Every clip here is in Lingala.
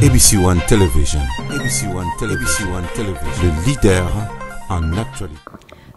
ABC One Television. ABC One Television. ABC One Television. Le leader en actualité.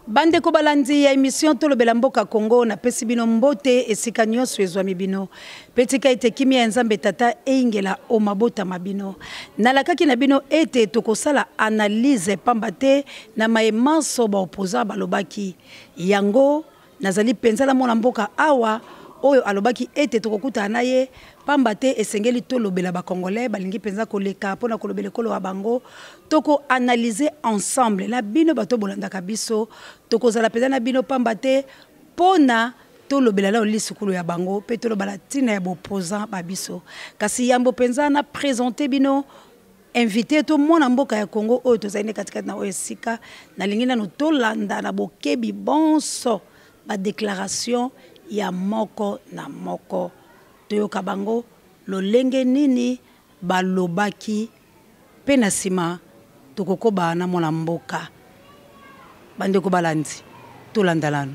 bandeko balandi ya émission tolobela mboka congo napesi bino mbote esika nyonso ezwami bino mpe tika ete kimia ya nzambe tata eyingela o mabota ma bino nalakaki na bino ete tokosala analyse pamba te na maye manso baopposant balobaki yango Nazali mpenza na mwana-mboka awa oyo alobaki ete tokokutana na ye pamba te esengeli tolobela ba congolais balingi mpenza koleka mpo na kolobela ekolo ya bango toko analyser ensemble na bino bato bolandaka biso tokozala mpenza na bino pamba te mpo na tolobela nao lisukulu ya bango mpe tolobala ntina ya bopozan ba biso kasi yambo mpenza na presente bino invite to mwana mboka ya Congo oyo tozali nde katikati na oyo esika nalingi nanu tolanda na bokebi bonso badeklaration ya moko na moko toyoka bango lolenge nini balobaki mpe na nsima tokokoba na mwana mboka bandeko balandi tolanda nanu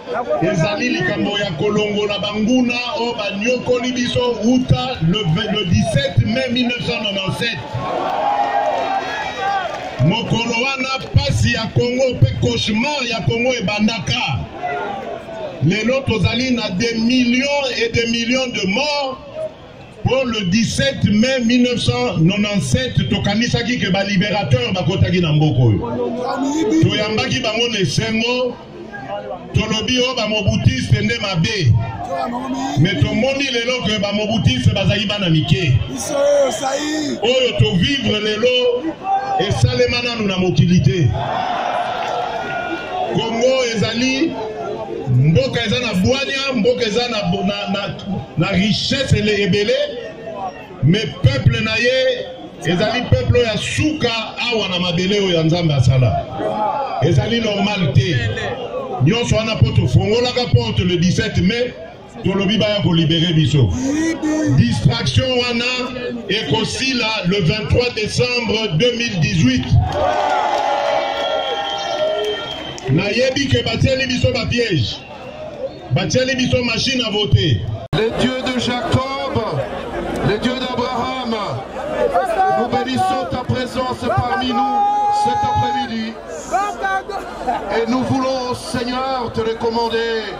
Ezali likambo ya kolongola banguna oyo banyokoli biso uta le 17 mai 1997 mokolo wana mpasi ya kongo mpe cauchemar ya kongo ebandaka lelo tozali na des millions et des millions de morts mpo le 17 mai 1997 tokanisaki ke baliberateur bakotaki na mboka oyo toyambaki bango na esengo tolobi oyo bamobutiste nde mabe me tomoni lelo ke bamobutiste bazali bana mike oyo tovivre lelo esalema nanu na mokili te kongo ezali mboka eza na bwania mboka eza na, na, na, na richesse ele ebele me peuple na ye ezali peuple oyo ya suka awa na mabele oyo ya nzambe asala ezali normal te nyonso wana mpo tofongolaka porte le 17 mai tolobi baya kolibere biso distraction wana ekosila le 23 décembre 2018 nayebi ke batieli biso bapiège batieli biso machine à voter le dieu de jacob le dieu d'abraham nous bénissons ta présence parmi nous cet après-midi et nous voulons seigneur te recommander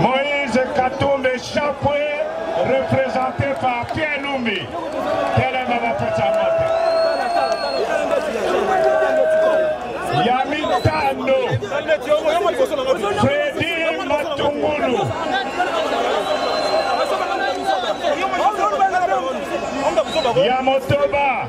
Moïse Katumbi Chapwe, représenté par Pierre Lumbi. Telema bapesa moto. Ya mitano, Fredi Matungulu. Ya motoba.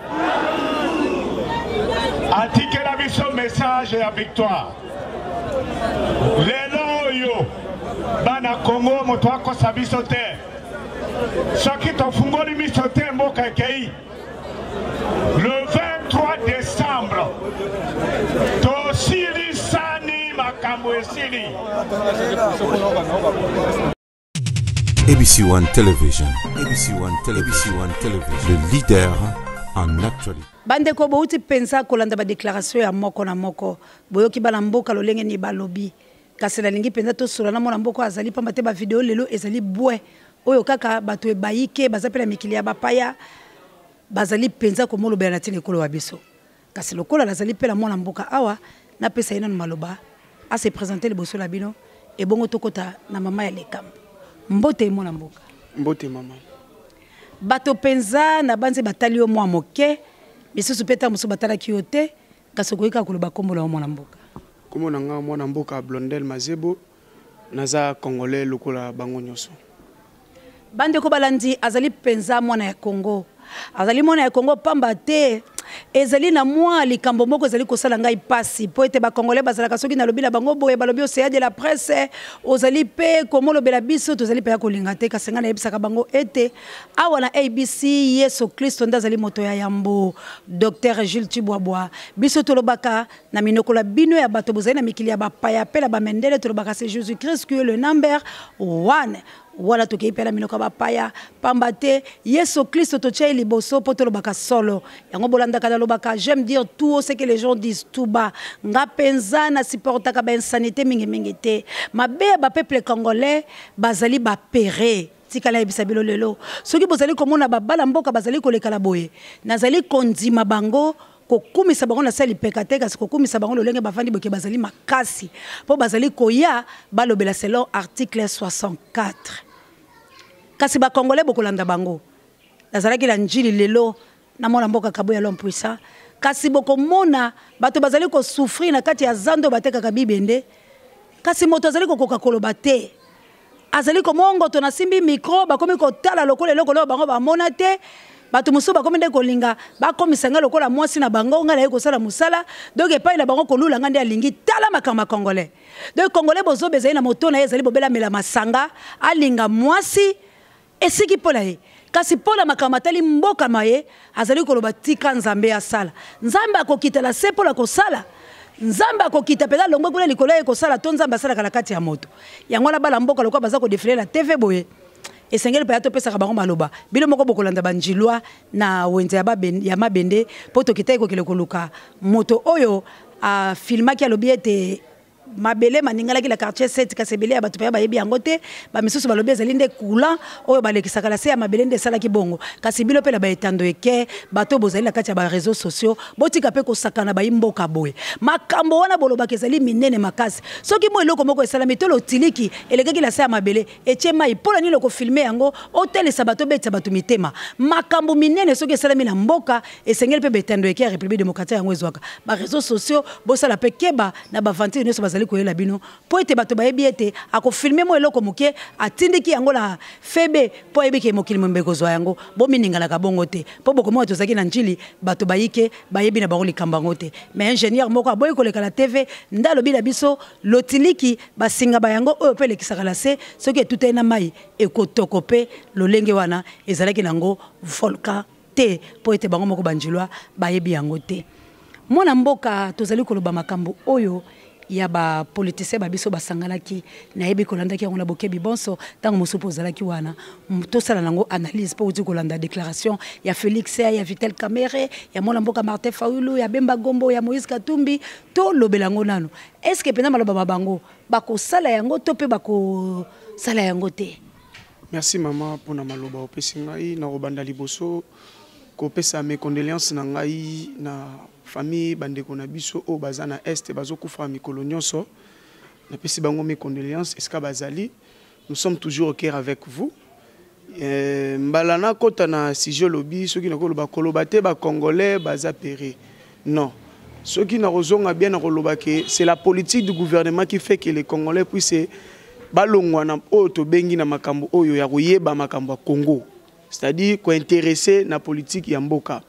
atikela biso message ya victoire lelo oyo bana kongo moto akosa biso te soki tofungoli miso te mboka ekei le 23 décembre tosilisani makambo esili ABC One Television. ABC One Television. ABC One Television. Le leader en actualité. bandeko bouti mpenza kolanda badeklaratio ya moko na moko boyoki bana mboka lolenge nini balobi kasi nalingi mpenza tosola na mwana mboka azali mpamba te bavideo lelo ezali bwe oyo kaka bato ebayike baza mpe na mikili ya bapaya bazali mpenza komolobela na ntina ekolo wa biso Kasi lokola nazali mpela mwana mboka awa, napesa ye nanu maloba a se presenter liboso la bino ebongo tokota na mama ya likambo. Mbote mwana mboka. Mbote mama. Bato mpenza na banze batali yo mwa moke, misusu mpe ntango mosusu batalaki yo te, kasi okoki kaka koloba nkombo na yo mwana mboka. Nkombo na nga mwana mboka Blondel Mazebo. Naza congolais lokola bango nyoso. Bandeko balandi azali mpenza mwana ya Congo. Azali mwana ya Congo pamba te ezali na mwa likambo moko ezali kosala ngai mpasi mpo ete bakongole bazalaka soki nalobi na bango boye balobi oseya de la presse ozali mpe komolobela biso tozali mpe ya kolinga te kasi ngai nayebisaka bango ete awa na abc yesu kristo nde azali moto ya yambo dr jules tibwabwa biso tolobaka na minoko na bino ya bato bozali na mikili ya bapaya mpe na bamendele tolobaka se jesus christ qui est le number one wana tokei mpe na minoko ya bapaya pamba te yesu kristo totya ye liboso mpo tolobaka solo yango bolandaka nalobaka j'aime dire tout ce que les gens disent tout bas nga mpenza na supportaka bainsanité mingimingi te mabe ya bapeuple congolais bazali bapere tika nayebisa bino lelo soki bozali komona babala mboka bazali kolekala boye nazali kondima bango kokumisa bango na se ya lipeka te kasi kokumisa bango lolenge bafandi boke bazali makasi mpo bazali koya balobela selon article 64 kasi bakongole bokolanda bango nazalaki na njili lelo na mwana mboka kabo ya lompuisa kasi bokomona bato bazali kosouffrir na kati ya zando batekaka bibende kasi moto azali kokoka koloba te azali komongoto nasimbi mikro bakomi kotala lokola eloko leo bango bamona te bato mosusu bakomi nde kolinga bakomisa ngai lokola mwasi na bango ngai naye kosala mosala donc epai na bango kolula ngai nde alingi tala makambo ya congolais donc congolais bozoba ezali na moto na ye ezali bobela mela masanga alinga mwasi esiki mpo na ye kasi mpo na makambo matali mboka ma ye azali koloba tika nzambe asala nzambe akokita na se mpo na kosala nzambe akokita mpenza longwe kuna likolo ye kosala to nzambe asalaka na kati ya moto yango wana bana mboka lokola baza kodefile na tv boye esengeli mpenza topesaka bango maloba bino moko bokolanda banjilwa na wenze ya, ya mabende mpo tokitaki kokende koluka moto oyo afilmaki alobi ete mabele maningalaki na quartier 7 kasi ebele ya bato mpenza bayebi yango te bamisusu balobi ezali nde courant oyo balekisaka na se ya mabele nde esalaki bongo kasi bino mpe na baetando eke bato bozali na kati ya bareseau sociaux botika mpe kosakana bayi mboka boye makambo wana bolobaka ezali minene makasi soki mo eloko moko esalami to lotiliki elekaki na se ya mabele etie mai mpo na nini okofilme yango otalisa bato obetisa bato mitema makambo minene soki esalami na mboka esengeli mpe betando eke ya république démocratique yango ezwaka bareseau sociaux bosala mpe keba na bavantire nyonso bazali koyela bino mpo ete bato bayebi ete akofilme mwa eloko moke atindiki yango na febe mpo ayebi ke mokili mombe kozwa yango bomininganaka bongo te mpo bokomona tozalaki na njili bato bayike bayebi na bango likambo yango te mais ingénieur moko aboyi koleka na tv nde alobi na biso lotiliki basinga ba yango oyo mpe elekisaka na se soki etutani na mai ekotoko mpe lolenge wana ezalaki na yango volcan te mpo ete bango moko banjilwa bayebi yango te mwana mboka tozali koloba makambo oyo ya bapolitisien ba biso basanganaki nayebi kolandaki yango na bokebi bonso ntango mosusu mpo ozalaki wana tosala nango analyse mpo outi kolanda déclaration ya félix ya vitel camere ya mwana mboka martin faulu ya bemba gombo ya moïse katumbi tolobela yango nano estce que mpenza maloba ma bango bakosala yango to mpe bakosala yango te Merci maman pona maloba opesi ngai na kobanda liboso kopesa mes condoléances na ngai na famille bandeko na biso oyo baza na est bazokufa mikolo nyonso napesi bango mes condoléances esika bazali nous sommes toujours au cœur avec vous euh, mbala nakota na sujet olobi soki nakoloba koloba te bacongolais baza pere Non. Soki na kozonga bien na koloba que c'est la politique du gouvernement qui fait que les Congolais puissent balongwa na oyo tobengi na makambo oyo ya koyeba makambo ya Congo. C'est-à-dire kointeresse na politique ya mboka.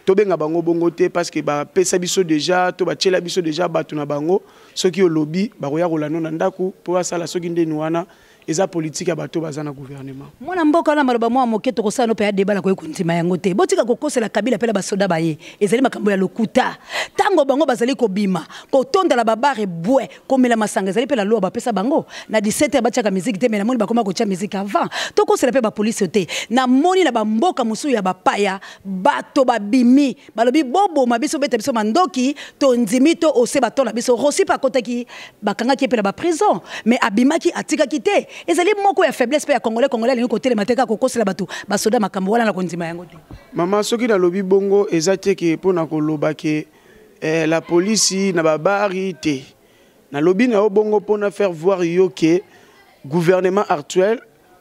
tobenga bango bongo te parce que bapesa biso déjà to batyela biso déjà bato na bango soki olobi bakoya kolanda na ndako mpo basala soki ndeni wana eza politique ya bato baza na gouvernement mwana mboka wana maloba mwa moke tokosala no mpe ya deba nakoki kondima yango te botika kokosela kabila mpe na basoda baye ezali makambo ya lokuta ntango bango bazali kobima kotonda na babare bwe komela masanga ezali mpe na loi bapesa bango na 17 ya batiaka miziki te me namoni bakoma kotya miziki avant tokosela mpe bapolisi te namoni na bamboka mosusu ya bapaya bato babimi balobi boboma biso beta biso mandoki tondimi to ose batola biso rosipe akotaki bakangaki ye mpe na baprison mais abimaki atikaki te ezali moko ya faiblesse mpe ya congolais congolais alingi kotelema te kaka kokosela bato basoda makambo wana na kondima yango te mama soki nalobi bongo eza te ke mpo na koloba ke eh, la polisi na babari te nalobi na yo bongo mpo na faire voir yo ke gouvernement actuel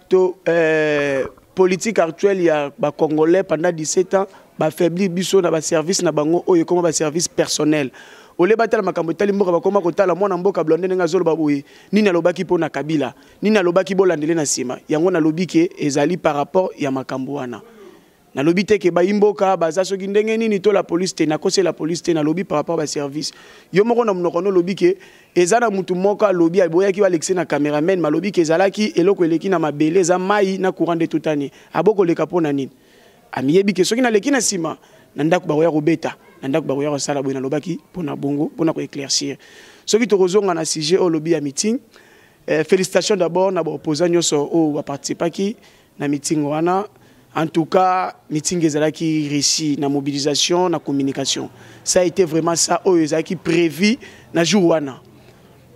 to eh, politique actuelle ya ba congolais pendant 17 ans ba faiblir biso na ba service na bango oyo ekoma ba service personnel ole batala makambo etali mboka bakoma kotala mwana mboka blonde ndenge azoloba boye nini alobaki mpo na kabila nini alobaki bolandele na nsima yango nalobi ke ezali par rapport ya makambo wana nalobi te ke bayimboka baza soki ndenge nini to la police te nakosi la police te nalobi par rapport ba service yo moko na monoko no lobi ke eza na mutu moko alobi aboyaki balekise na cameraman malobi ke ezalaki eloko eleki na mabele eza mai na courant de toute année aboko leka pona nini amiyebi ke soki naleki na sima na ndako bakoya kobeta na ndako bakoya kosala boye nalobaki pona bongo pona ko éclaircir soki tokozonga na sujet oyo lobi ya meeting eh, félicitations d'abord na ba opposants nyonso oyo ba participaki na mitingo wana en tout cas mitingi ezalaki réussi na mobilisation na communication ça a été vraiment ça oyo ezalaki prévu na jour wana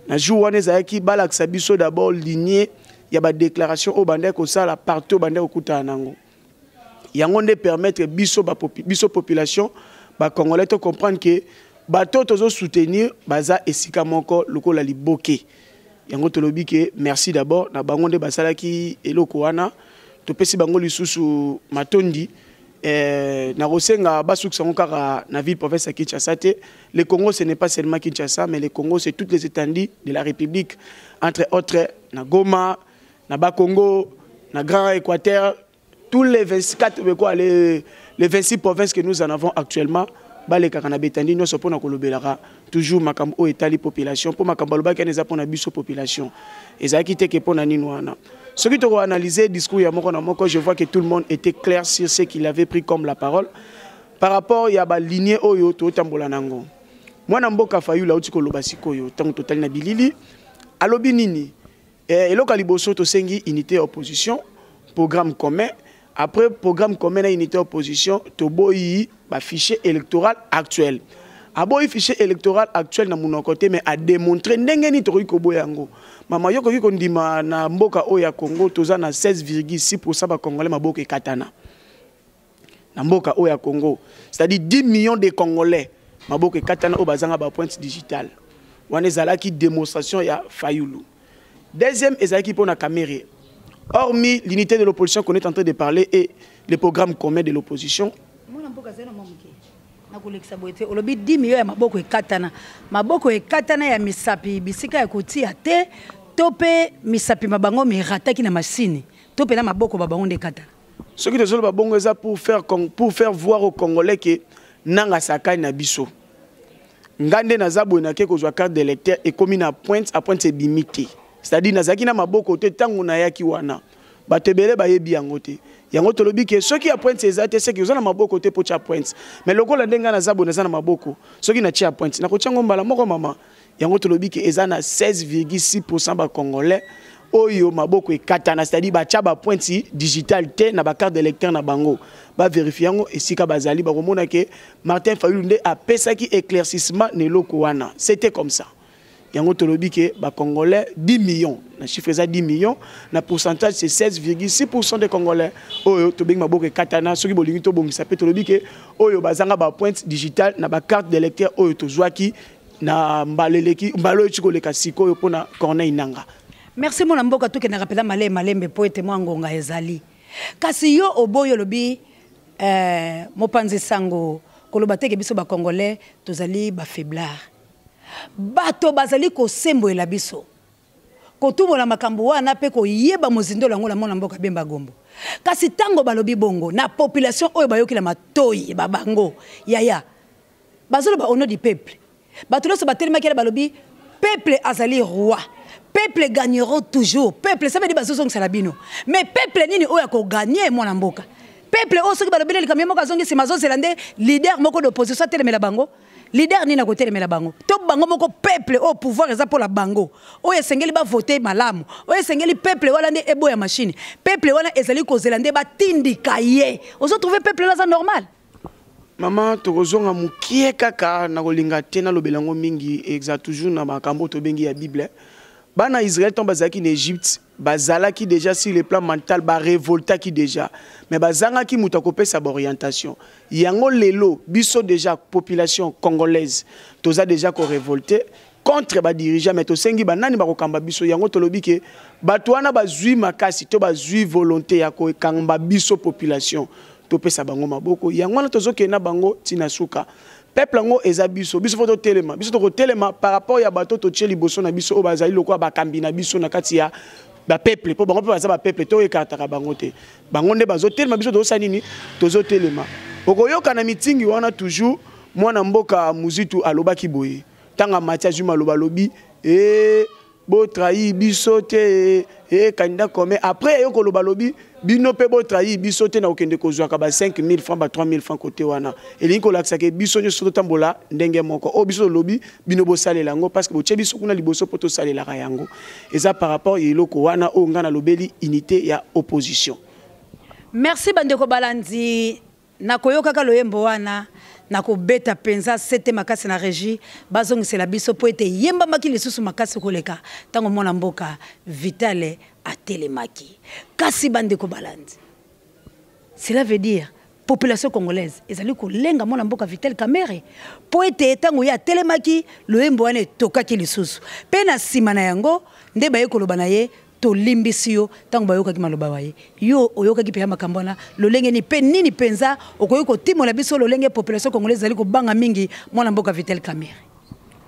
na jour wana ezalaki balakisa biso d'abord lignée ya badéclaration oyo bandaki kosala partout bandaki kokutana nango yango nde permettre biso, ba, biso population bacongolais to comprendre ke bato oyo tozosoutenir baza esika moko lokola liboke yango tolobi ke merci d'abord na bango nde basalaki eloko wana topesi bango lisusu matondi eh, nakosenga basukisa yango kaka na ville province ya kinshasa te le congo ce n'est pas seulement kinshasa mais le congo c'est toutes les étendues de la république entre autres na goma na bakongo na grand équateur tous les 24 quoi, les, les 26 provinces que nous en avons actuellement balekaka na betandi nyonso mpo na kolobelaka toujours makambo oyo etali population mpo makambo alobaki wana eza mpo na biso population ezalaki te ke mpo na nini wana soki tokoanalyse discours ya moko na moko je vois que tout le monde était clair sur ce qu'il avait pris comme la parole par rapport ya baligne oyo totambola nango mwana mboka fayula auti koloba sikoyo ntango totali na bilili alobi nini Eh, eloko ya liboso tosengi unité ya opposition programme commun après programme commun na unité ya opposition toboyi bafichier électoral actuel aboyi fichier électoral actuel na monoko te mais ademontre ndenge nini tokoki koboya yango mama yo okoki kondima na mboka oyo ya congo toza na 16,6 pourcent bacongolais maboko ekatana na mboka oyo ya congo c'est-à-dire 10 millions de congolais maboko ekatana oyo bazanga bapointe digitale wana ezalaki démonstration ya fayulu deuxième ezalaki mpo na kamere hormis l'unité de l'opposition qu'on est en train de parler et le programme commun de l'opposition nakolekisa boye te olobi 10 million ya maboko ekatana maboko ekatana ya misapi bisika ya kotia te to mpe misapi ma bango mirataki na masini to mpe na maboko ba bango nde ekatana soki tozoloba bongo eza pour faire, pour faire voir au congolais ke nanga asakani na biso ngai nde naza boye nake kozwa carte de lecteur ekomi na pointe a pointe ebimi te c'est-à-dire nazalaki na maboko te ntango nayaki wana bato ebele bayebi yango te yango tolobi ke soki ya pointe eza te seki oza na maboko te mpo tya pointe mais lokola nde ngai naza boye naza na maboko soki natya ya pointe nakotya yango mbala moko mama yango tolobi ke eza na 16,6% ba congolais oyo maboko ekatana c'est-à-dire batya bapointe digitale te na bacarte d'électeur na bango baverifie yango esika bazali bakomona ke martin fayulu nde apesaki éclaircissement na eloko wana c'était comme ça yango tolobi ke bacongolais 10 millions na chiffre eza 10 millions na pourcentage c'est 16,6 pourcent de congolais oyo tobengi maboko ekatana soki bolingi tobongisa mpe tolobi ke oyo bazanga bapointe digitale na bacarte d'électeur oyo tozwaki na mbala eleki mbala oyo tikoleka sikoyo mpo na corneille nanga merci mwana mboka tokendaka mpenza malee malembe mpo ete mwa ngonga ezali kasi yo oboyi olobi eh, mopanzi sango koloba teke biso bacongolais tozali bafaiblard bato bazali kosembolela biso kotumola makambo wana mpe koyeba mozindo yango na mwana mboka bemba gombo kasi ntango balobi bongo na population oyo bayoki na matoi babango yaya bazoloba au nom du peuple bato nyonso batelemaki yana balobi peuple azali roi peuple gagneront toujours peuple ça veut dire bazozongisa na bino mais peuple nini oyo akoganye mwana mboka peuple oyo soki balobeli likambo ye moko azongi nsima azozela nde leader moko d'opposition atelemela bango leader nini akotelemela bango to bango moko peuple oyo pouvoir eza mpo na bango oyo esengeli bavote malamu oyo esengeli peuple wana nde eboya mashine peuple wana ezali kozela nde batindika ye ozotrouve peuple wana aza normal Maman tokozonga mukie kaka na kolinga te na lobela ngo mingi exa toujours na makambo tobengi ya Bible. Bana Israël tant bazalaki na Egypte bazalaki déjà sur le plan mental ba révoltaki déjà mais bazangaki moto akopesa ba orientation yango lelo biso déjà population congolaise toza déjà ko révolter contre ba dirigeants mais tosengi ba nani bakokamba biso yango tolobi ke bato wana bazwi makasi to bazwi volonté ya kokamba biso population topesa bango maboko yango wana tozokende na bango ntina suka peuple yango eza biso biso fo totelema biso tokotelema par rapport ya bato totie liboso na biso oyo bazali lokola bakambi na biso na kati ya bapeuple mpo bango mpe baza bapeuple to ekartaka bango te bango nde bazotelema biso tozosala nini tozotelema okoyoka na mitingi wana toujours mwana mboka muzitu alobaki boye tanga mati azwi maloba alobi ee eh, botrahi biso te ee eh, candidat commun après aye koloba alobi bino mpe botrahi biso te na kokende kozwaka ba 5000 franc ba 3000 franc kote wana elingi kolakisa ke biso nyonso totambola ndenge moko oyo biso tolobi bino bosalela yango parce que botye biso kuna liboso mpo tosalelaka yango eza par rapport ya eloko wana oyo ngai nalobeli unité ya opposition merci bandeko balandi Na koyokaka loyembo wana, na kobeta mpenza sete makasi na regie bazongisela biso mpo ete eyembamaki lisusu makasi koleka ntango mwana mboka Vitale atelemaki. Kasi bandeko balandi, cela veut dire population congolaise ezali kolenga mwana mboka Vital Kamerhe mpo ete ntango ye atelemaki loyembo wana etokaki lisusu mpe na nsima na yango nde baye koloba na ye tolimbisi yo ntango bayokaki maloba wa ye yo oyokaki mpenza makambo wana lolenge nini mpe nini mpenza okoki kotimola biso lolenge population congolais ezali kobanga mingi mwana mboka vitel camere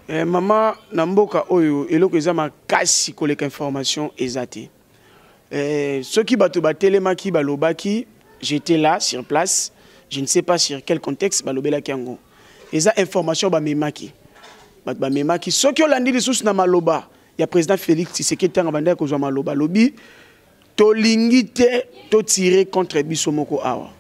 eh, mama na mboka oyo eloko eza makasi koleka information eza te eh, soki bato batelemaki balobaki j'étais là sur place je ne sais pas sur quel contexte balobelaki yango eza information bamemaki bato bamemaki soki olandi lisusu na maloba ya president Felix Tshisekedi tanga bandaki kozwa maloba lobi tolingi te to tirer contre biso moko awa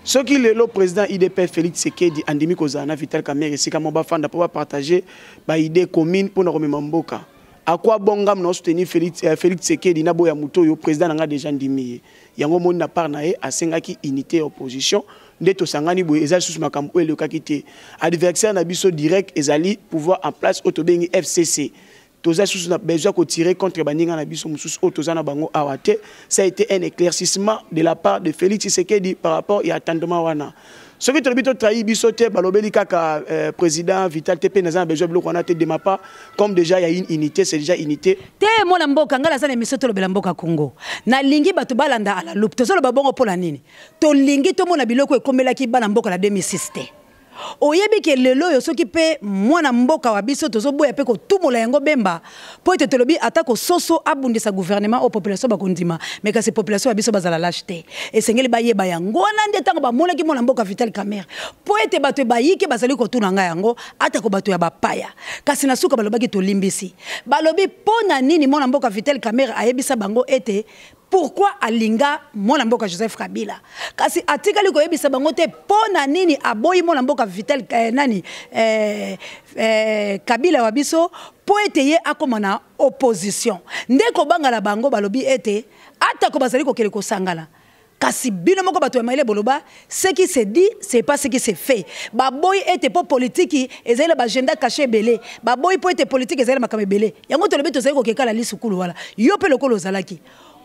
soki lelo président idp félix sekedi andimi kozala na vital kamere esika moko bafanda mpo bapartage baide commune mpo na komema mboka akwa bongam na soutenir félix, euh, félix sekedi na boya moto oyo président na ngai deja ndimi ye yango omoni na part na ye asengaki unité ya opposition nde tosangani boye eza lisusu makambo oyo elekaki te adversaire na biso direct ezali pouvoir en place oyo tobengi fcc toza lisusu na besoin kotirer contre baninga na biso mosusu oyo toza na bango awa te ça a été un éclaircissement de la part de félix tshisekedi par rapport ya attendement wana soki tolobi totrahi biso te balobeli kaka euh, président vital te mpe naza na besoin biloko wana te de ma part comme déjà ya une unité c'est déjà unité te mwana mboka ngai naza na émission tolobela mboka congo nalingi bato balanda à la loupe tozoloba bongo mpo na nini tolingi tomona biloko ekomelaki bana mboka na 2006 te Oyebi ke lelo oyo soki pe mwana mboka wa biso tozoboya pe kotumola yango Bemba po ete tolobi ata ko soso abundisa gouvernement o population bakondima mais kasi population ya biso bazala lache te esengeli bayeba yango wana nde tango bamonaki mwana mboka Vital Kamerhe po ete bato bayike bazali kotuna nga yango atako bato ya bapaya kasi na suka balobaki tolimbisi balobi po na nini mwana mboka Vital Kamerhe ayebisa bango ete pourquoi alinga mwana mboka joseph kabila kasi atikali koyebisa bango te mpo na nini aboyi mwana mboka vital eh, nani eh, eh, kabila wa biso mpo ete ye akoma na opposition nde kobanga na bango balobi ete atako bazali kokende kosangana kasi bino moko bato ya mayele boloba Ce qui se dit, c'est pas ce qui se fait. Baboy était pour politique, ils avaient l'agenda caché belé. Baboy pour être politique, ils avaient makamé belé. Yango to le beto zeko keka la lisu kulu wala. Yo pe lokolo zalaki.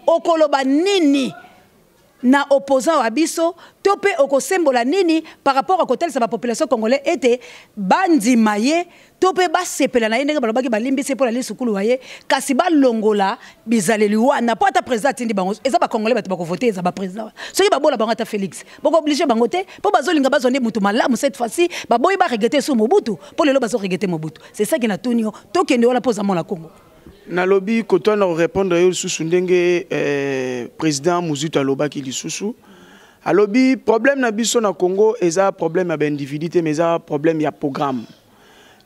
Okoloba nini na opposant wa biso to pe okosembola nini par rapport à kotalisa ba population congolais ete bandima ye to mpe basepela na ye ndenge balobaki balimbisi mpo na lisukulu wa ye kasi balongola bizaleli wana mpo ata président atindi bango eza bacongolais bato bakovote eza baprésident wana soki babola bango ata félix bokooblige bango te mpo bazolinga bazwa nde motu malamu cette fois-ci baboyi baregete esu mobutu mpo lelo bazoregete mobutu c'est ça ki natuni yo tokende wana mpo oza mwana kongo nalobi kotoana korépondre yo lisusu ndenge eh, président mozutu alobaki lisusu alobi problème na biso na congo eza problème ya baindividu te mais eza problème ya programme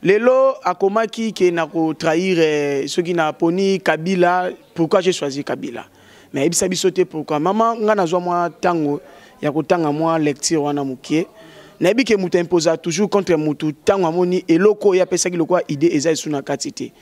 lelo akomaki ke na kotrahir eh, soki na poni kabila pourquoi j'ai choisi kabila mais ayebisa biso te pourquoi mama ngai nazwa mwa ntango ya kotanga mwa lecture wana mokie nayebi ke moto imposa toujours contre motu ntango amoni eloko oyo apesaki lokola idée eza esu na kati te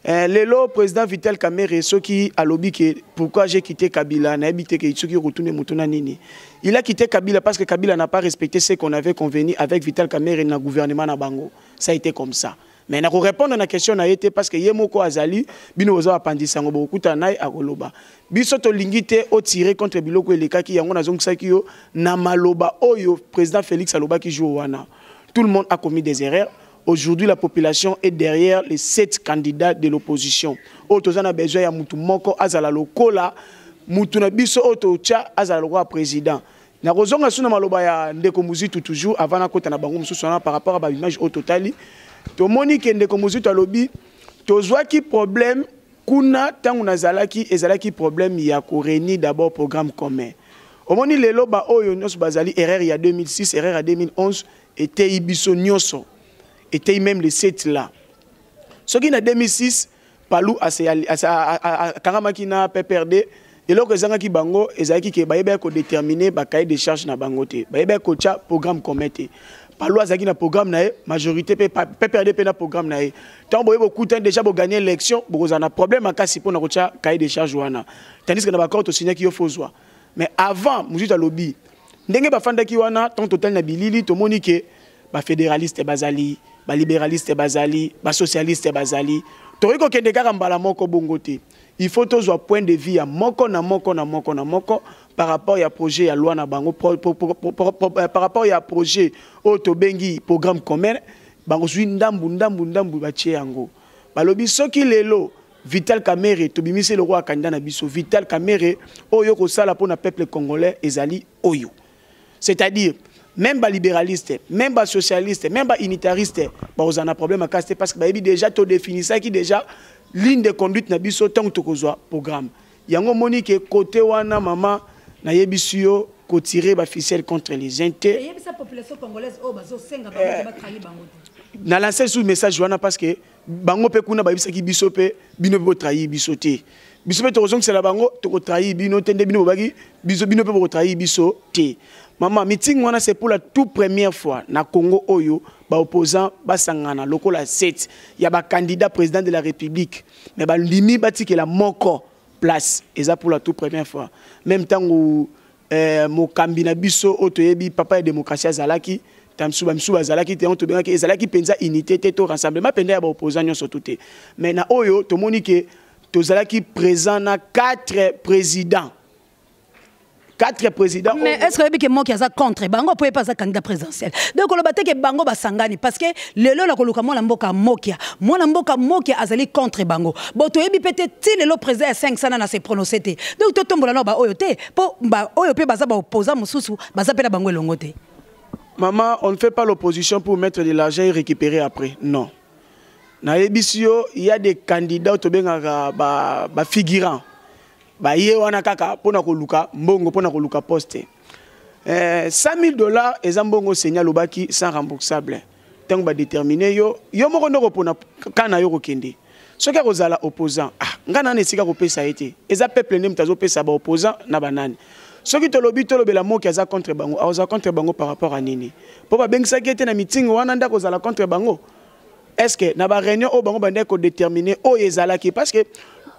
Eh, lelo président Vital Kamerhe soki alobi que pourquoi j'ai quitté Kabila n'a habité que soki retourné mutuna nini il a quitté Kabila parce que Kabila n'a pas respecté ce qu'on avait convenu avec Vital Kamerhe na gouvernement na bango ça a été comme ça mais na ko répondre na question na été parce que ye moko azali bino boza apandisa ngo bokuta naye akoloba biso to lingite au tirer contre biloko elekaki yango nazongisaki yo na maloba oyo président Félix alobaki jour wana tout le monde a commis des erreurs Aujourd'hui la population est derrière les sept candidats de l'opposition. Oyo toza na besoin ya mutu moko azala lokola mutu na biso oyo totia azala lokola président. Na kozonga suna maloba ya ndeko Muzitu toujours avant na kota na bango mususu wana par rapport à ba image oyo totali. Tomoni ke ndeko Muzitu alobi tozwaki problème kuna tango nazalaki ezalaki problème ya ko réunir d'abord programme commun. Omoni lelo ba oyo nyonso bazali erreur ya 2006, erreur ya 2011 eteyi biso nyoso eteyi meme le set là soki na 2006 palu akangamaki na pprd eloko ezangaki bango ezalaki ke bayebaki kodetermine bacahier de charge na bango te bayebaki kotya programme commun te palu azalaki na programme na ye majorité mpe pprd mpe na programme na ye ntango boye bokutani déjà boganye élection bokozala na problème makasi mpo na kotya cahier de charge wana tandis que na baccord tosignaki yo fozwa mais avant mosusu alobi ndenge bafandaki wana ntango totali na bilili tomoni ke bafederaliste bazali baliberaliste bazali basocialiste bazali tokoki kokende kaka mbala moko bongo te il faut tozwa point de vue ya moko na moko na moko na moko par rapport ya projet ya loi na bango pro, pro, pro, pro, pro, pro, euh, par rapport ya projet oyo tobengi programme commun bakozwi ndambu ndambu ndambu batie yango balobi soki lelo Vital Kamerhe tobimisi ye lokola candidat na biso. Vital Kamerhe oyo okosala mpo na peuple congolais ezali oyo. C'est-à-dire même ba libéraliste, même ba socialiste, même ba unitariste bakozala na problème makasi te parce que bayebi déjà to definisaki déjà ligne de conduite na biso ntango tokozwa programme. Yango omoni ke kote wana mama nayebisi yo kotirer ba ficelle contre les uns te. Eyebisa population congolaise oyo bazosenga bango te batrahi bango te. Na lancer sous message wana parce que bango mpe kuna bayebisaki biso mpe bino mpe botrahi biso te biso mpe tokozongisela bango tokotrahi bino te nde bino bobaki biso bino mpe bokotrahi biso te mama mitingi wana c'est pour la tout première fois na congo oyo baopposant basangana lokola 7 ya bacandidat président de la république mais bandimi batikela moko place eza pour la tout première fois même ntango eh, mokambi na biso oyo toyebi papa ya demokrasi azalaki tamsu bamisu bazalaki te yango tobengaki ezalaki mpenza unité te to rassemblement mpenza ya baopposant nyonso tu te mais na oyo tomoni ke tozalaki présent na quatre présidents quatre présidents mais est ce que oyebi ke moki aza contre bango mpo ye mpe aza candidat présidentiel donc oloba te ke bango basangani parce que lelo na koluka mwana mboka mokia mwana mboka mokia azali contre bango bo toyebi mpe te ti lelo président ya 5 sana na se prononce te donc totombola nao baoyo te po ba oyo pe baza ba opposant mususu baza pe na bango elongo te maman on ne fait pas l'opposition pour mettre de l'argent et récupérer après non nayebisi yo il y a des candidats oyo tobengaka bafigurant ba baye wana kaka mpo na koluka mbongo mpo na koluka poste eh, 100 000 dollars eza mbongo seigneur alobaki sans remboursable ntango badetermine yo yo moko nde okopona kan na yo kokende soki akozala opposant ah, ngai nani esika kopesa ye te eza peuple nde moto azopesa baopposant na banani soki tolobi tolobela moki aza contre bango akozala contre bango par rapport à nini mpo babengisaki ye te na mitingi wana nde akozala contre bango est ce que na baréunion oyo bango bandaki kodetermine oyo ezalaki parce que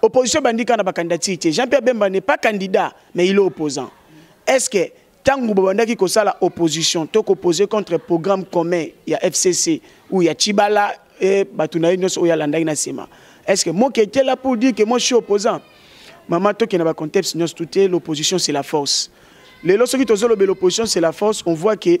opposition ebandi kaka na bacandidature te jean pierre bemba n'est pas candidat mais il est opposant est ce que Tango babandaki kosala opposition to koposer contre programme commun ya FCC ou ya Chibala et bato na ye nyonso oyo alandaki na nsima est ce que moke ete la pour dire que moi je suis opposant mama tokenda bacontexte nyonso tute l'opposition c'est la force lelo soki tozolobela l'opposition c'est la force on voit que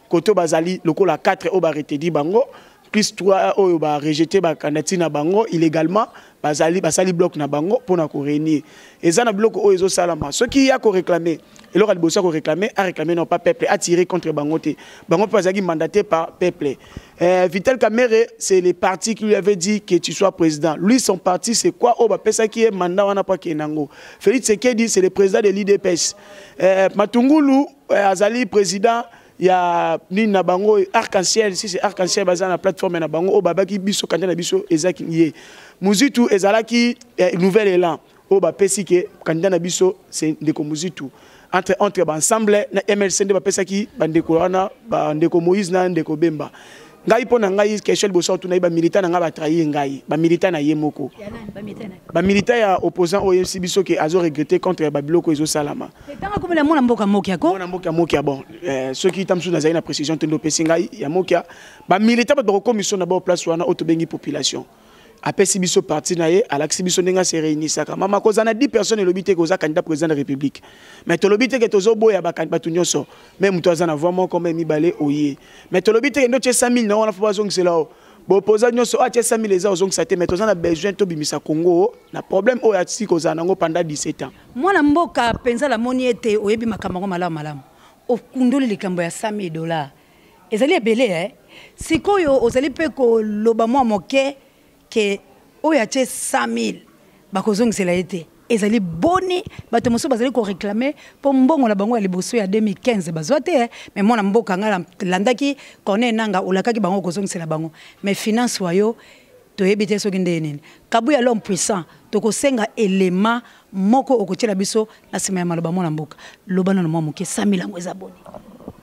koto bazali lokola 4 oyo ba retedi bango plus 3 oyo ba rejete ba candidature na bango illégalement bazali basali bloc na bango mpo na korenir eza na biloko oyo ezosalama soki ya koreklame eloko ya liboso ya koreklame areklame non pas peuple atire contre bango te bango mpe bazalaki mandaté par peuple euh, vital kamere c'est le parti qui lui avait dit que tu sois président lui son parti c'est quoi oyo bapesaki ye mandat wana mpo akende yango félix sekedi c'est le président de l'idps euh, matungulu Eh, azali président ya nini na bango arc-en-ciel si c'est arc-en-ciel baza na plateforme na bango oyo babaki biso kanda na biso ezaki ye muzitu ezalaki eh, nouvel élan oyo bapesi ke kanda na biso se ndeko muzitu entre entre baensemble na mlc nde bapesaki bandeko wana bandeko moïse na ndeko bemba ngai mpo na ngai question liboso otuna ye bamilita na ngai batrahir ngai bamilita na ye moko bamilita ya opposant oyo oyebisi biso ke azo regrette contre babiloko ezosalama mwana mboka mokia ko mwana mboka mokia bon eh, soki ta mosusu nazali na précision te nde opesi ngai ya mokia bamilita bato bakokomiso na bao place wana oyo tobengi population apesi biso parti na ye alakisi biso ndenge ase réunisaka mama kozala na 10 personnes elobi te koza candidat président de république mais tolobi te ke tozoboya bato nyonso me moto aza na voi moko me mibale oye mais tolobi te ke nde otye 100 000 na wana fo bazongisela o bopoza nyonso oyo atye 100 000 eza ozongisa te mais toza na besoin tobimisa congo na problème oyo atiki kozala nango pendant 17 ans mwana mboka mpenza namoni ete oyebi makambo yango malamu malamu okundoli likambo ya 100 000 dollars Ezali ebele eh. Sikoyo ozali pe ko loba mwa moke ke oyo atie 100.000 bako zongisela ye te. Ezali boni bato mosusu bazali ko reclamer po mbongo na bango ya liboso ya 2015 bazwa te eh. Mais mwana mboka nga na landaki Corneille Nanga olakaki bango oko zongisela bango mais finance wa yo toyebi te soki ndenge nini. Kabuya l'homme puissant toko senga element moko oko tiela biso na sima ya maloba mwana mboka. Loba nanu mwa moke 100.000 yango eza boni?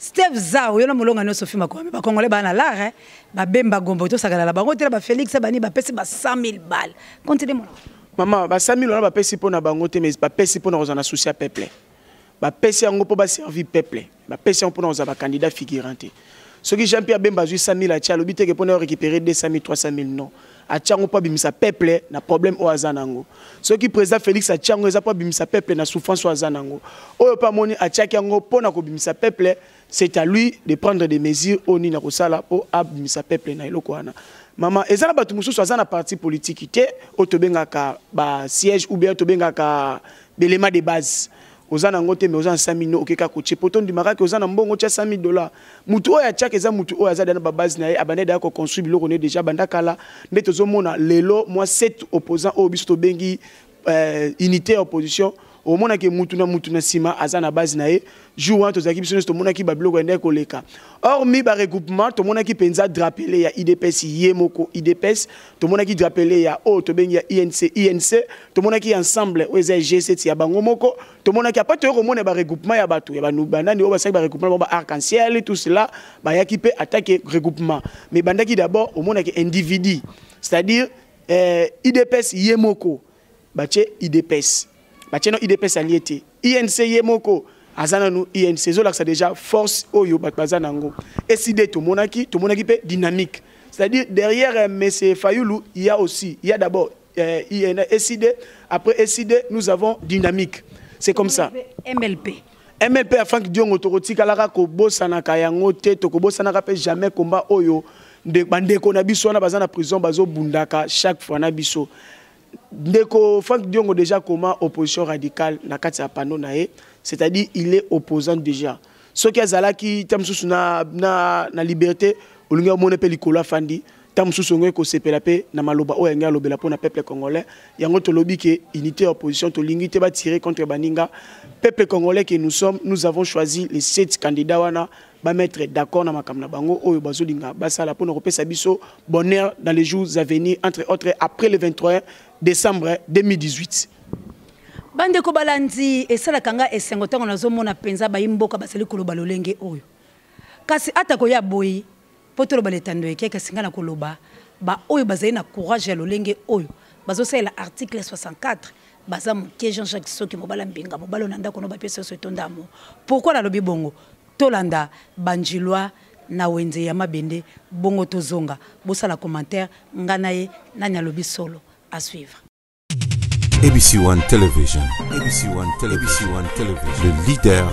Steve Zao yo na molonga nioso fima kwa ba congolais ba na lara ba bemba gombo to sakala la bango tela ba Felix bani ba pesi ba 100000 balles continue mon Mama ba 100000 wana ba pesi pona bango te mais ba pesi pona kozana souci ya peuple ba pesi yango po ba servir peuple ba pesi yango pona kozaba candidat figurant te soki Jean Pierre Bemba azui 100000 atia lobi te ke pona récupérer 200000 300000 non atia yango mpo abimisa peuple na problème oyo aza nango soki président félix atia yango eza mpo abimisa peuple na souffrance oyo aza nango oyo mpe amoni atiaki yango mpo na kobimisa peuple c'est à lui de prendre des mesures oyo nini akosala mpo abimisa peuple na eloko wana mama eza na bato mosusu aza na parti politiki te oyo tobengaka basiège ou bien tobengaka belema de base oza na yango te mais oza na 5000 no oke kaka kotie po tondimaka ke oza na mbongo otia 100000 dollar motu oyo atiaka eza motu oyo aza deja na babase na ye abanda deja koconstruire biloko na ye deja banda kala nde tozomona lelo mwa set opposant oyo biso tobengi euh, unité ya opposition omonaki mutu na mutu na nsima aza na base na ye jour wana tozalaki biso nyonso tomonaki babiloko yandaki koleka or mi baregroupement tomonaki mpenza drapele ya idps ye moko idps tomonaki drapele ya oyo tobengi ya inc inc tomonaki ya ensemble oyo eza ya g7 ya bango moko tomonaki apa toyei komona baregroupement ya bato ya banani oyo basalaki baregroupement bango ba arc en ciel tout cela bayaki mpe atake regroupement mais ebandaki d'abord omonaki individu c'est-à-dire eh, idps ye moko batie idps batie no idps alie te inc ye moko aza nanu inc ezolakisa déjà force oyo bato baza na yango eside tomonaki tomonaki mpe dynamique c'est-à-dire derrière euh, monsieur fayulu il y a aussi il y a d'abord euh, eside après eside nous avons dynamique c'est comme ça mlp mlp ya frank diongo tokotikalaka kobosanaka yango te tokobosanaka mpe jamais combat oyo bandeko na biso wana baza na prison bazobundaka chaque fois na biso Ndeko Frank Diongo déjà comment opposition radicale na kati ya panneau na ye, c'est-à-dire il est opposant déjà. Ce qui azalaki tam sous na na na liberté, olingi omone pe likolo afandi, tam sous ongo ko sepela pe na maloba oyo yango alobela pona peuple congolais. Yango to lobi ke unité opposition to lingi te ba tirer contre baninga. Peuple congolais que nous sommes, nous avons choisi les sept candidats wana ba mettre d'accord na makambo na bango oyo bazolinga basala mpo na kopesa biso bonheur dans les jours à venir entre autres après le 23 décembre 2018 bandeko balandi esalaka nga esengo ntango nazomona mpenza bayi mboka bazali koloba lolenge oyo kasi atako ya boyi Mpo toloba na etando eke, kasi ngai nakoloba baoyo bazali na courage ya lolenge oyo bazosalela article 64 baza moke. Jean Jacques Soki, mobala mbinga, mobala ona ndako no bapesa yoso etonda amour. Pourquoi nalobi bongo? Tolanda Bandjilois na wenze ya mabende bongo tozonga. Bosala commentaire nga na ye nani alobi solo? A suivre. ABC One Television. ABC One Television. ABC One Television. Le leader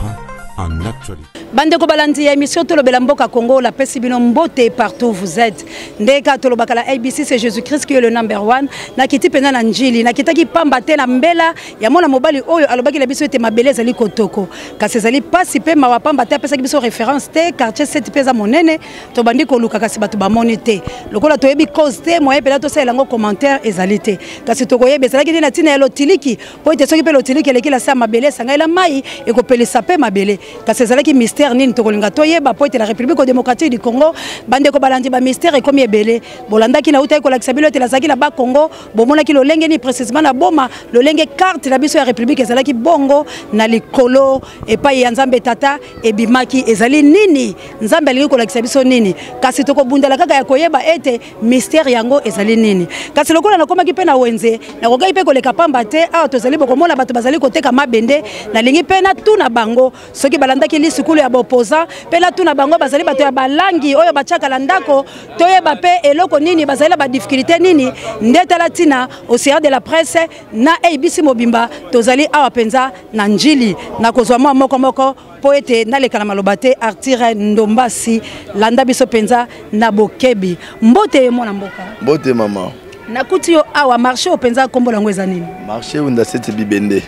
en actualité. bandeko balandi ya émission tolobela mboka congo lapesi bino mbote partout vous êtes ndeka tolobaka la abc c'est jésus christ qui est le number one nakiti mpenza na njili nakitaki pamba te na mbela ya mwana mobali oyo alobaki na biso ete mabele ezali kotoko kasi ezali mpasi mpe mawa pamba te apesaki biso référence te quartier 7 mpe eza monene tobandi koluka kasi bato bamoni te lokola toyebi cause te moye mpena tosalela yango commentaire ezali te kasi tokoyeba ezalaki nde na ntina ya lotiliki mpo ete soki mpe lotiliki eleki na se ya mabele esangai na mai ekopelisa mpe mabele kasi ezalaki mystère nini tokolinga toyeba mpo ete na république démocratique du congo bandeko balandi bamystère ekomi ebele bolandaki na utaki kolakisa bino ete nazalaki na bakongo bomonaki lolenge nini précisement na boma lolenge karte na biso ya république ezalaki bongo na likolo epai ya nzambe tata ebimaki ezali nini nzambe alingi kolakisa biso nini kasi tokobundela kaka ya koyeba ete mistere yango ezali nini kasi lokola nakomaki mpe na wenze nakokaki mpe koleka pamba te awa tozali bokomona bato bazali koteka mabende nalingi mpe natuna bango soki balandaki lisukulu ya bopoza mpe natuna bango bazali bato ya balangi oyo batiaka na ndako toyeba mpe eloko nini bazali na badiffikulté nini nde tala ntina océan de la presse na abc mobimba tozali awa mpenza na njili nakozwa mwa moko moko mpo ete naleka na maloba te artire ndombasi landa biso mpenza na bokebi mbote ye mwana mboka mbote mama nakuti yo awa marché oyo mpenza nkombo yango eza nini marché wenda sete bibende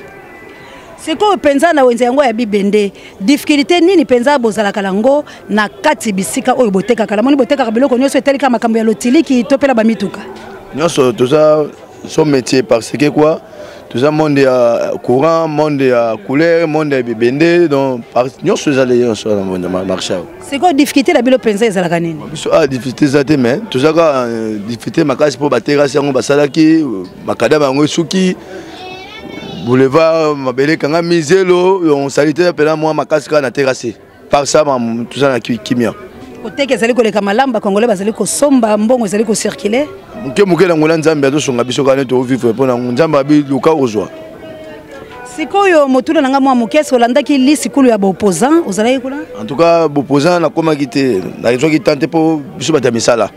sikoyo mpenza na wenze yango ya bibende difficulté nini mpenza bozalaka nango na kati bisika oyo botekaka namoni botekaka biloko nyonso etalika makambo ya lotiliki to mpela bamituka nyonso toza son métier parce que quoi toza monde ya courant monde ya couleur monde ya bibende donc nyonso ezali nyonso wana monde marché awa sikoyo difficulté na bino mpenza ezalaka nini biso a ah, difficulté eza te mais toza kaka euh, difficulté makasi mpo baterasi yango basalaki makadama yango esuki boulevard mabele ekangami zelo salite mpena mwa makasi kaka na terase par ça mamu toza na kimia koteka ezali koleka malamu bakongole bazali kosomba mbongo ezali kocircule moke moke na ngona nzambe azosunga biso kaka nde tovivre mpo na nzambe abi luka ozwa sikoyo motuna na ngai mwa moke esi olandaki lisikulu ya baopposant ozalaki kuna en tout cas baopposant nakomaki te nazwaki temps te mpo biso bato ya misala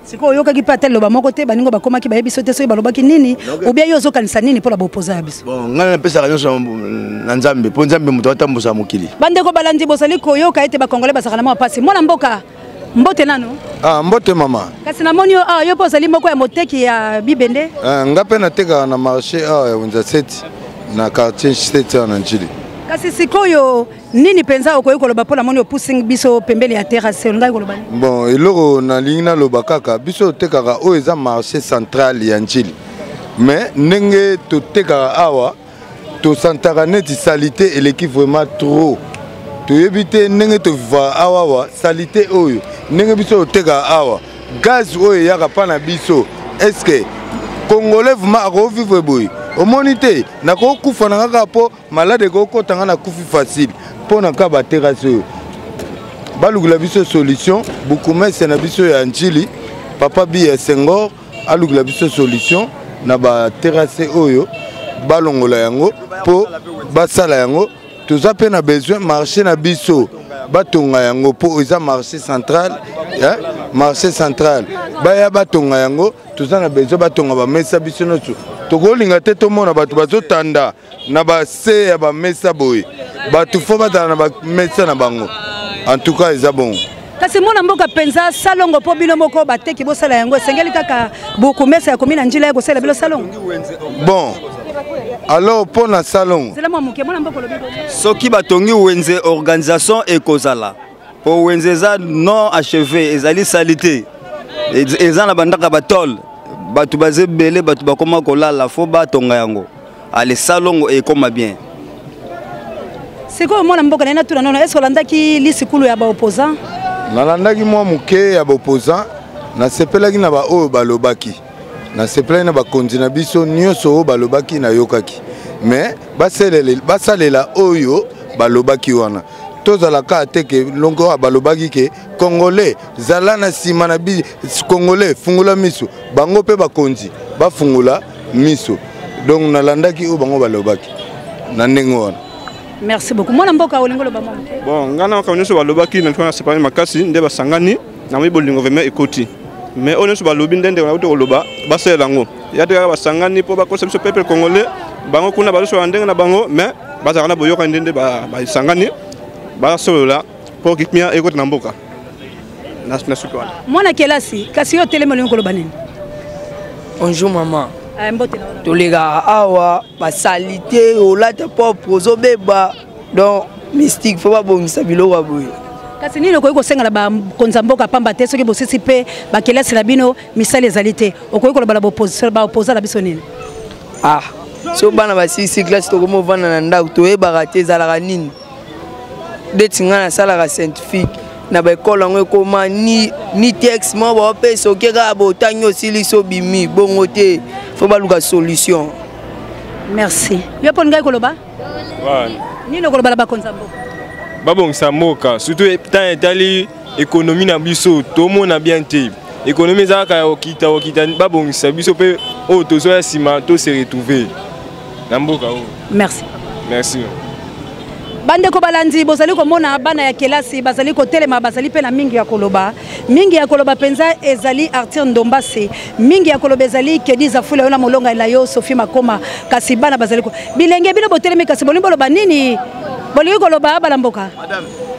sikoyo oyokaki mpe ata liloba moko te baningo bakomaki bayebi so te soki balobaki nini obia yo ozokanisa nini mpo na bopoza ya biso bon ngai napesaka nyonso na nzambe mpo nzambe moto atambusa mokili bandeko balandi bozali koyoka ete bakongole bazalaka na mwa mpasi mwana mboka mbote nano ah, mbote mama kasi namoni yo awa ah, yo mpe ozali moko ya moteki ya bibende ah, ngai mpe natekaka na marché awa ya wenza seti na quartier seti awa na njili kasi sikoyo nini mpenza okoki koloba mpo namoni opusi biso pembeni ya terase olingaki koloba nini bon eloko nalingi naloba kaka biso totekaka oyo eza marché central ya njili mais ndenge totekaka awa tosantaka neti salite eleki vraiment trop toyebi te ndenge tovivaka awa awa salite oyo ndenge biso totekaka awa gaz oyo eyaka mpa na biso estce congolais vraimen akovivre boye omoni te nakokufa na kaka mpo malade ekokota nga nakufi facile mpo na ka baterase oyo balukela biso solution bukumese na biso ya ncili papa bi ya sengor alukela biso solution na baterase oyo balongola yango mpo basala yango toza mpe na besoin marché na biso batonga yango mpo eza marché central eh? marché central baya batonga yango toza na besoin batonga bamesa biso nyonso tokolinga te tomona bato bazotanda na ba se ya ba mesa boye bato fo batala na ba mesa na bango en tout cas eza bongo kasi mwana mboka mpenza salongo mpo bino moko bateki bosala yango esengeli kaka bokomesa ya komi na njila ya kosalela bino salongo bon alors mpo na salongo soki batongi wenze organisation ekozala mpo wenze eza non acheve ezali salite eza na bandaka batole bato baza ebele bato bakoma kolala fo batonga yango ale salongo ekoma bien sikoyo mwana mboka naye natuna nono eske olandaki lisikulu ya baopposant nalandaki mwa moke ya baopposant nasepelaki na baoyo balobaki nasepelaki na bakonzi na biso nyonso oyo balobaki nayokaki me basalela oyo balobaki wana tozala kaka te ke longo oyo balobaki ke congolais zala na nsima na bi congolais fungola miso bango mpe bakonzi bafungola miso donc nalandaki oyo bango balobaki na ndenge wana merci beaucoup mwana mboka olingi oloba mwa bon ngai na makambo nyonso balobaki na ntina nasepani makasi nde basangani namoni bolingo vraimen ekoti mais oyo nyonso balobi nde ndeko nakuti koloba basalela yango ya te kaka basangani mpo bakosa biso peuple congolais bango kuna bazosola ndenge na bango mais bazalaka na boyokani nde nde basangani basolola mpo kimia ekota na mboka na suki wana mwana kelasi kasi yo otelemi olingi koloba nini bonjour maman eh, tolekaka awa basalite olata propre ozobeba donc mystique faut babongisa biloko ya boye kasi nini okoki kosenga na bakonzi ya mboka pamba te soki bosisi mpe bakelasi na bino misala ezali te okoki koloba na baopoza na biso nini ah so bana basilisi classe tokomi ovanda na ndako toyebaka te ezalaka nini ndeti ngai nasalaka scientifique na baekole yango ekoma ni, ni texte moko baopesa oke kaka botangi osilisi obimi bongo te fo baluka solution merci yo mpo ngai koloba nini okoloba na bakonzi ya mboka babongisa mboka surtout ntango etali ekonomi na biso tomona bien te ekonomi eza kaka ya kokita kokita babongisa biso mpe oyo tozoya nsima to se retrouver na mboka oyo merci merci bandeko balandi bozali komona bana ya kelasi bazali kotelema bazali mpe na mingi ya koloba mingi ya koloba mpenza ezali arthur ndombase mingi ya koloba ezali kedi zafula yo na molongai na yo sophie makoma kasi bana bazali bilenge bino botelemi kasi bolingi boloba nini bolingi koloba abala mboka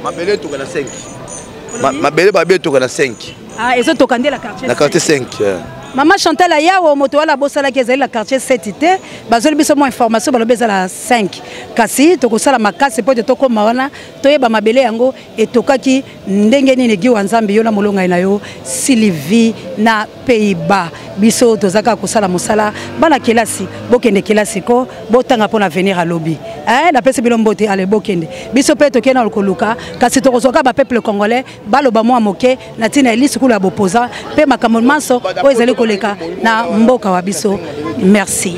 mabele etoka na 5 mabele babe etoka na 5 ah, ezotoka nde na quartier 5 mama chantal ayawo moto wana abosalaki ezali na quartier 7 te bazoli biso mwa information balobi eza na 5 kasi tokosala makasi mpo ete tokóma wana toyeba mabele yango etokaki ndenge nini giwa nzambe yo na molongai na yo sylvie na pays bas biso toza kaka kosala mosala bana kelasi bokende kelasi ko botanga mpo na venir ya lobi eh, napesi bino mbote ale bokende biso mpe tokei na koluka kasi tokozwa kaka bapeuple congolais baloba mwa moke na ntina ya lisukulu ya bopoza mpe makambo manso oyo ezali koleka na mboka wa biso merci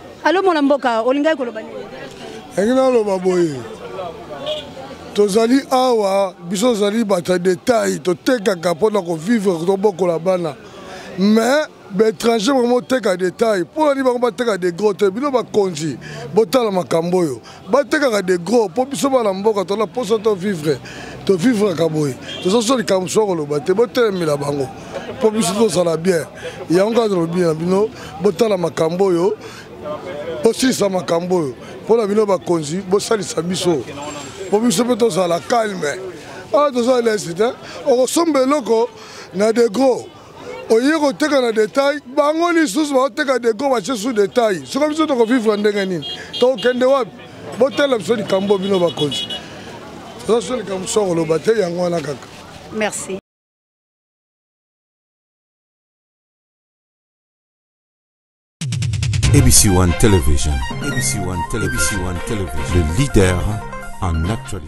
Alo mwana mboka olingaki koloba nini? Yangi naloba boye tozali awa biso tozali bato ya detail totekaka mpo na kovivre tobokola bana mais baétranger bango boteka detail mpo nani bango bateka degro te bino bakonzi botala makambo oyo batekaka de gros mpo biso bana mboka tona mposa to vivre to vivraka boye toza so likambo mosusu akoloba te botelemela bango mpo biso tozala bien yango kaka tolobi na bino botala makambo oyo bosilisa makambo oyo mpo na bino bakonzi bosalisa biso mpo biso mpe tozala calme awa ah, toza lesi te okosomba eloko na de gros oye koteka na detail bango lisusu baoteka deko batie su detail soki biso tokovivre ndenge nini tokokende wapi botala biso likambo bino bakonzi oza so likambo so koloba te yango wana kaka merci ABC One Television. ABC One Television. ABC One Television. Le leader en actualité.